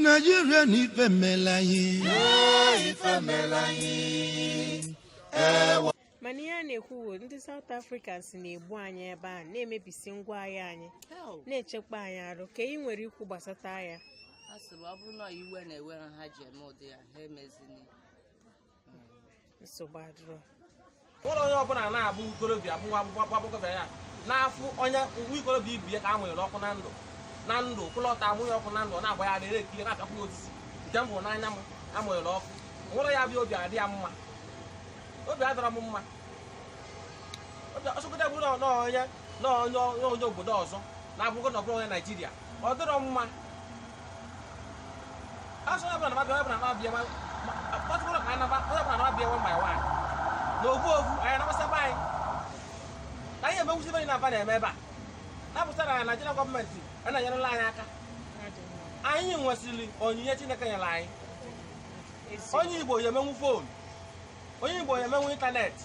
naijiria na ife mela anyị mana ihe a na-ekwu bụ ndị South Africans na-egbu anyị ebe a na-emebisi ngwa ahịa anyị na-emekpa anyị arụ kee ihe ị nwere ikwu gbasata ya a sịrị ọ bụrụ na iwe na-ewe ha ji eme ụdị ya ha emezini nsogbu adịrọ ụlọ onye ọbụla na-abụ ikorobịa bụ nwa akwụkwọ agbọghọbịa ya na-afụ onye nwa ikorobịa ibe ya ka a mụnyere ọkụ na ndụ na ndụ kwụlọta amụnye ọkụ na ndụ ọ na-agba ya a na-ekiri na-apịakwa ya osisi nke mbụ n'anya m amụnyere ọkụ nwụrụ ya bịa obi adị ya mma obi adịrọ m mma obi ọsọgide bụ na na onye na onye na onye obodo ọzọ na-abụgo na ọ bụrụ onye naijiria ọ dịrọ mma Asị onye ọbụla na-abịa, onye ọbụla na-abịa, ma- ma- kpọtụkwara ka anyị naba, onye ọbụla na-abịa one by one. Na ofu ofu, anyị anabasa be anyị. Ka anyị emenwuzi ife anyị na-aba na-eme ebe a. Na-apụta na Naịjirịa gọọmenti a na-enyerela anyị aka. Anyị nwesịrị onyinye Chineke nyere anyị. Onye Igbo ya emenwu fon. Onye Igbo ya emenwu ịntanetị.